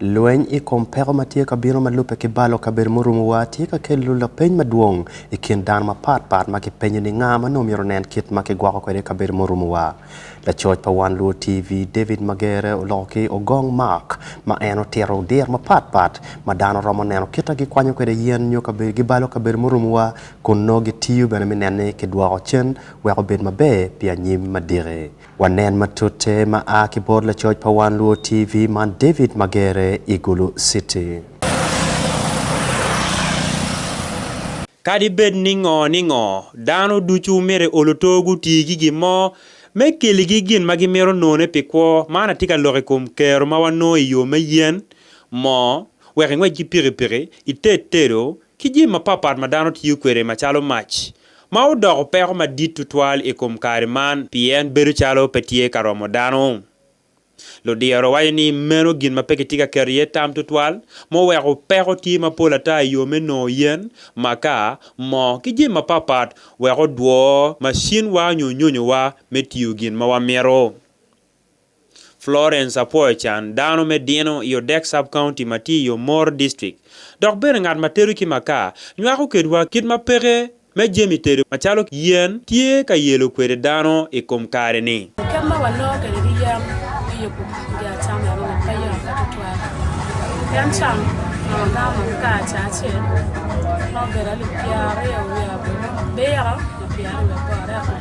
Lweny i kom peko ma tye ka bino ma lubbe ki balo kabedo murumowa tye ka kelo lapeny madwong i kin dano mapatpat ma gipenyo ni nga ma nongo myero onen kit ma kigwoko kwede kabedo murumowa. Lacoc pa Wan Luo TV, David Magere oloko ki ogong Mark ma en otito dir mapatpat ma dano romo neno kita gikwanyo kwede yen nyo kabedo gibalo kabedo murumowa kun nongo gitiyo bene me nene kidwoko cen wek obed maber pi anyim madiki. Wanen matute ma a ki bot lacoc pa Wan Luo TV man David Magere i Gulu City. Kadi bed ni ngo ningo, dano ducu myero oluto guti ki gin mo me keligi gin ma gimito none pi kwo. Man atye ka loko i kom kero ma wanongo i yo me yen, moo, wek ingwec ki pikipiki, ited tedo, ki jami mapat pat ma dano tiyo kwede macalo mac ma odoko peko madit tutwal i kom kare man pien bedo calo pe tye ka romo dano. Ludiro waco ni meno gin ma pe kitye ka keto iye tam tutwal, muweko peko tye mapol ata i yo me nongo yen, makaa, moo, ki jami mapatpat wek odwo macinwa nyo nyonyowa me tiyo gin ma wamito. Florence apwoyo can dano me dino i Odek Sub-County ma tye i Omoro District dok bene ngat ma tedo ki makaa nywako kedwa kit ma peke me jami tedo macalo yen tye ka yelo kwede dano i kom kare-ni. Kit ma wanongo kwede ki yen me yubo kodi acama enoni pe yot tutwal pien can ma wanongo makaa ca acel nongo obedo alip pyeraryo wiye abulu biro ma pyeraryo bot.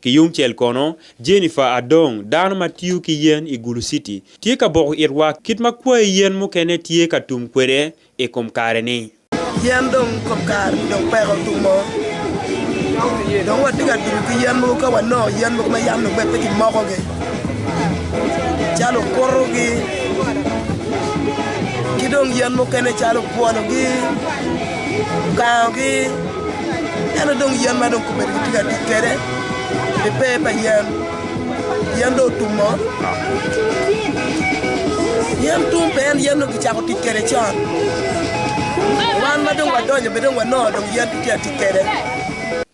Ki yungcel kono, Jennifer Adong, dano ma tiyo ki yen i Gulu City, tye ka boko itwa kit ma kwayi yen mukene tye ka tum kwede i kom kare-ni. Yen dong i kom kare-ni dong peko tumo. Dong watye ka tubo ki yen mogo ka wanongo yen mogo ma yam dong pe kimokogi calo okuto-gi ki dong yen mukene calo obwolo-gi. ogangogi ento dong yen ma dong kome-ni kitye ka tic kwede pi pee pa yen, yen dong otummo. Yen tum pe en yen dong kicako tic kwede con. Wan ma dong wadonyo bene dong wanongo dong yen kitye ka tic kwede.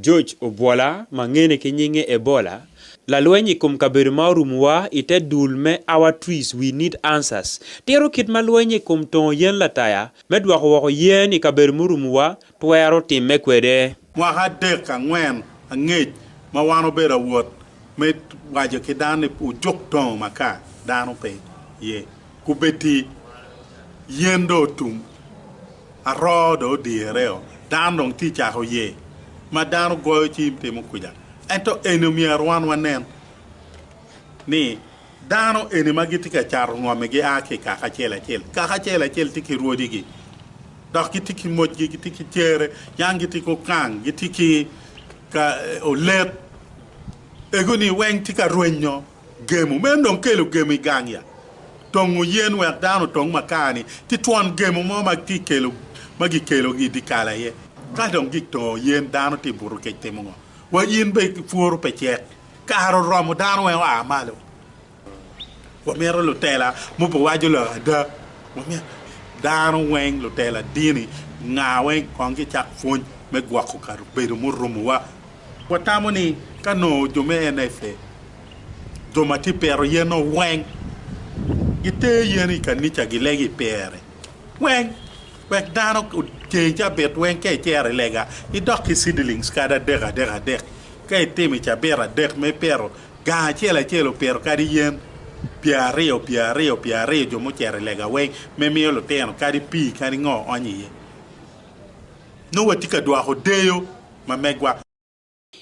George Obwola ma ngene ki nyinge Ebola, lalweny i kom kabedo ma orumo wa i te dul me Our Trees We Need Answers, tito kit ma lweny i kom tongo yen lataya me dwoko woko yen i kabedo murumo wa twero timme kwede. Mwaka adek angwen angec ma wan obedo awot me waco ki dano ni wujuk tongo maka, dano pe ye. Kubedi yen dong otum, aroo dong odyereo, dano dong tye cako ye, ma dano goyo cim timo kwica. Ento eni myero wan wanen ni dano eni ma gitye ka cato ngome gia ki i kaka acel acel, kaka acel acel tye ki rwodigi, dok gitye ki mocgi, gitye ki cere, yang gitye ki okang, gitye ki olet, ego-ni weng tye ka rwenyo. Gemo. Meno dong kelo gemo i gang ya. Tongo yen wek dano otong makar-ni ki twon gemo mo ma kikelo, ma gikelo i dikal aye. Ka dong gik tongo yen, dano tye buto kec timo ngo? Wa in be pworo pe cek. Kare oromo dano weng oa malo. Wamito lutela mo pe waco lok ada. Wamito dano weng, lutela dini, nga weng kong gicak pwony me gwoko kabedo murumo wa. Watamo ni ka nongo jo me NFA, jo ma tye ka pito yen-o weng, gitero yen i kanica gilego i pere weng wek dano ocengi cabit weng ka icero i lega, idok ki seedlings kadi adek adek adek. Ka itimo i cabit adek ma ipito gang acel acel opito kadi yen pyeraryo pyeraryo pyeraryo jo mucito i lega weng me miyo lutino kadi pii kadi ngo oony iye. Nongo watye ka dwoko deyo. ma megwa.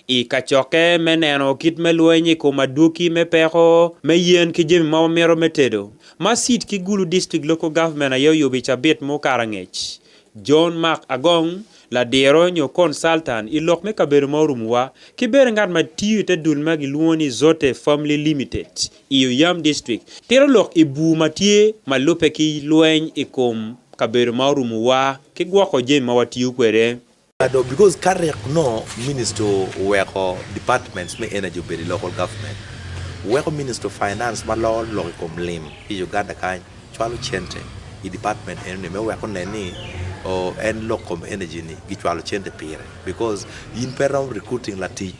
I kacokke me neno kit me lweny i kom adwoki me peko me yen ki jami ma wamito me tedo, ma City ki Gulu District Local Government aye oyubo i cabit ma okato angec, John Mark Agong, ladiro nyo consultant i lok me kabedo ma orumuwa, ki bene ngat ma tiyo i te dul ma gilwongo ni Zotte Family Limited i Oyam District, tito lok i bur ma tye ma lubbe ki lweny i kom kabedo ma orumuwa ki gwoko jami ma watiyo kwede. Kado because ka rek onongo ministry oweko departments me energy obedo i local government, weko ministry of finance ma loro lok i kom lim ki Uganda kany cwalo cente i department eno ni me wek onen ni en lok kom energy ni gicwalo cente pire because in pe iromo recruiting latic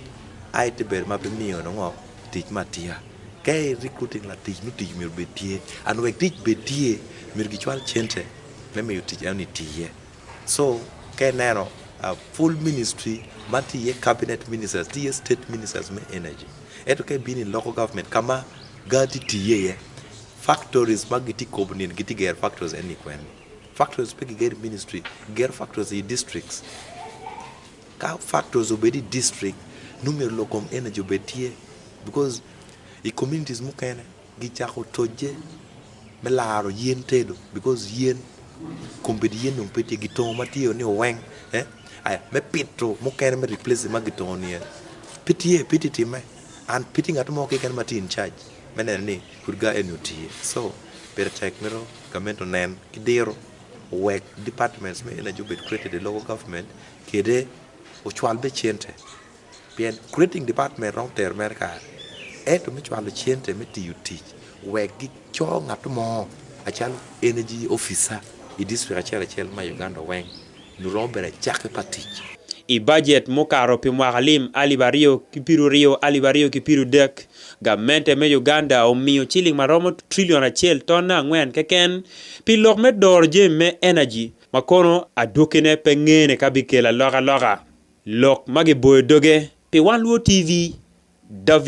aye te bedo ma pe imiyo nongo tic me atika. Ka i recruiting latic nongo tic myero obed tye and wek tic bed tye myero gicwal cente me miyo tic eno ni tiye. So ka ineno full ministry man tye iye cabinet ministers, tye iye state ministers me energy ento ka ibino i local government ka ma gaa tye tiye iye factories ma gitye ka kobo nino gitye ka gero factories eni kwene? Factories pe kigero i ministry, kigero factories i districts. Ka factories obedo i district nongo myero lok kom energy obed tye because i communities mukene Gicako tocce me laro yen tedo because yen kombeddi yen dong pe tye gitongo ma tye ni oweng eh aya me pito mukene me replace ma gitongo ni en pe tye pe tye timme and pe tye ngat mo keken ma tye in charge me neno ni pud gar eni otiye so pire tek mito gament onen ki diro owek departments me energy obed created i local government kede ocwal bene cente. Pien Creating Department romo tero mere kare, ento me cwalo cente me tiyo tic wek gico ngat mo acalo Energy Officer i district acel acel ma i Uganda weng, nyo romo bedo acakki pa tic. I bajet mukato pi mwaka lim alip aryo ki piruryo alip aryo ki pirudek, gamente me Uganda omiyo ciling ma romo trillion acel ton angwen keken pi lok me doro jami me energy ma kono adwokine pe ngene ka bikelo alokaloka. Lok ma giboyo doge pi Wan Luo TV, David.